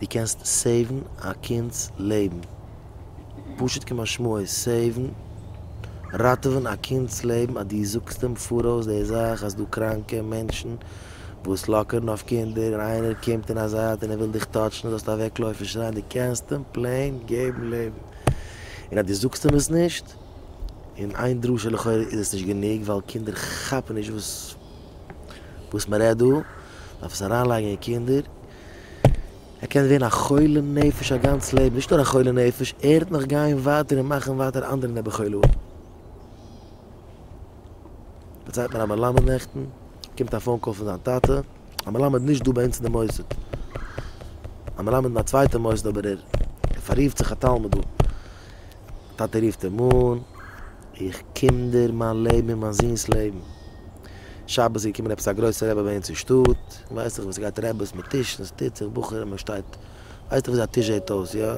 דו קענסט סעיוון א קינד'ס לעבן. פשוט כמשמעו איז סעיוון, ראטעווען, א קינד'ס לעבן אז דו זאגסט אים פאראויס די זאך אז דא קראנקע מענטשן וואס לאקערן אויף קינדער און איינער קומט אין א זייט און ער וויל דיך טאטשן זאלסטו אוועקלויפן שרייען. דו קענסט אים פלעין געבן לעבן. און אז דו זאגסט אים עס נישט, און איין דרשה לכאורה איז עס נישט גענוג ווייל קינדער כאפן נישט וואס מ'רעדט דא, דארף עס אריינלייגן אין קינדער ער קען ווערן א חולה נפש א גאנץ לעבן, נישט נאר א חולה נפש, ער וועט נאך גיין ווייטער און מאכן ווייטער אנדערע נעבעך חולי אויך. דערציילט מיר א מלמד נעכטן, באקומט א פאון קאל פון זיין טאטע, א מלמד נישט דא ביי אונז אין די מוסד, א מלמד אין א צווייטע מוסד אבער ער פאררופט זיך א תלמיד דא, טאטע רופט אים אן, איך קינדער מיין לעבן און מיין זון'ס לעבן. שבת איז געקומען עפעס א גרויסע רבי ביי אונז אין שטאט, ווייסט זיך ווי ס'גייט רעבעס מיט טישן, ס'טוט זיך בחורים מען שטייט, ווייסט דאך ווי אזוי א טיש זעט אויס, יא?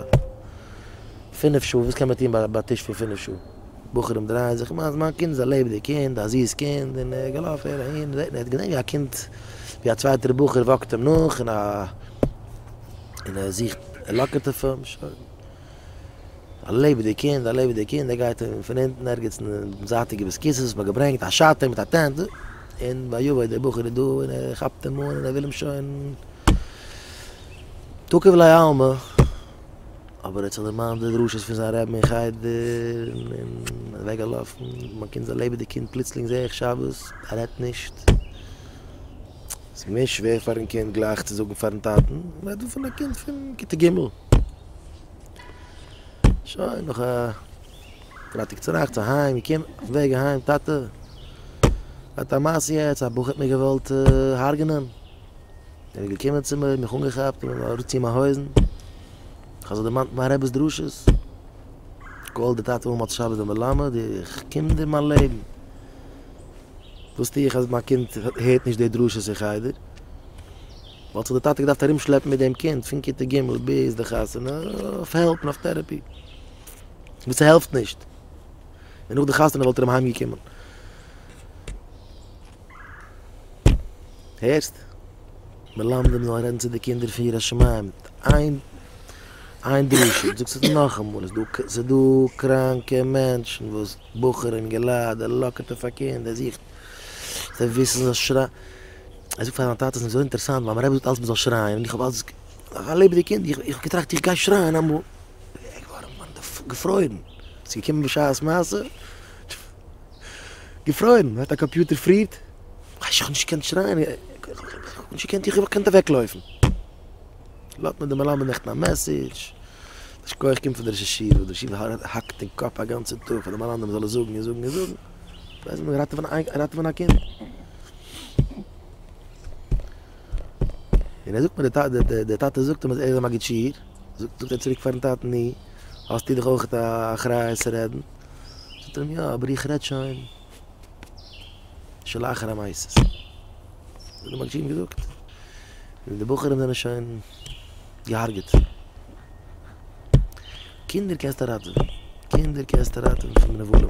פינף שעה, וואס קען מען טון ביי א טיש פון פינף שעה? בחורים דרייען זיך, כ'מיין אז מיין קינד איז א לעבעדיג קינד, א זיס קינד, און ער געלאפן הער אהין, רעדט מען, ער האט געזען ווי א קינד, ווי א צווייטער בחור וואקט אים נאך, און ער זוכט, ער לאקערט אויף אים, שוין. א לעבעדיג קינד, א לעבעדיג קינד, ער גייט און פון אונטן ערגעץ אין די זייטיגע ביסקיסעס האט מען געברענגט א שאטער מיט א טענט, און ויבא דער בחור איז דא און ער כאפט אים אן און ער וויל אים שוין תוקף לעלמא, אבער ער האט זיך דערמאנט די דרשות פון זיין רבי אין חדר און און ער איז אוועק געלאפן, מיין קינד איז א לעבעדיג קינד, פלוצלינג זעה איך שבת ער רעדט נישט, ס'איז געווען שווער פארן קינד גלייך צו זאגן פארן טאטן, מ'רעדט דא פון א קינד פון כיתה ג'. שוין נאך א פרייטאג צונאכטס צו היים געקומען אויפן וועג אהיים טאטע האט א מעשה יעצט א בחור האט מיר געוואלט הרג'נען ער איז געקומען צו מיר מיך אנגעכאפט און מיר אראפציען מיין הויזן איך האב זיך דערמאנט מיין רב'ס דרשות כל דתתא הוא מוצא שבת ומלמד איך קום דיר מיין לעבן וואס טו איך אז מיין קינד הערט נישט די דרשות אין חדר וואלט זיך די טאטע געדארפט ארום שלעפן מיט דעם קינד פון כיתה ג' ביז די חתונה אויף העלפ און אויף טערעפי וואס ס'העלפט נישט און נאך די חתונה וואלט ער אים אהיים געקומען הערסט? מלמדים זאלן רעדן צו די קינדער פון יראת שמים איין איין דרשה איך זאג עס נאכאמאל ס'איז דא קראנקע מענטשן וואס בחורים געליידער לאקערט אויף א קינד ער זוכט זיי וויסן זיי שרייען ער זאגט פאר זיין טאטע, עס איז מיר זייער אינטערעסאנט ווייל מיין רבי זאגט אלץ מען זאל שרייען, און איך האב אלץ א לעבעדיג קינד, איך האב געטראכט איך גיי שרייען אמאל, בין איך געווארן געפרוירן, עס איז געקומען בשעת מעשה, געפרוירן, מען האט א קאמפיוטער פרירט, איך האב נישט געקענט שרייען, איך האב נישט געקענט, איך האב געקענט אוועק לויפן, לאזט מיר דער מלמד נעכטן א מעסעדזש, יישר כח קומט פון דער ראש ישיבה, דער ראש ישיבה האקט אין קאפ א גאנצע טאג פאר דעם מלמד מען זאל עס זאגן און זאגן און זאגן. ווייל זיי ווילן ראטעווען א קינד. און ער זאגט מיר, דער טאטע זאגט אים אז ער איז א מגיד שיעור, זאגט ער צוריק פארן טאטן, נו, האסטו דאך אויך א אחריות צו רעדן. זאגט ער אים, יא, אבער איך רעד שוין שלאחר המעשה. האט דער מגיד שיעור אים געזאגט, און די בחורים זענען שוין געהארגעט. קינדער קענסטו ראטעווען, קינדער קענסטו ראטעווען פון נבלים.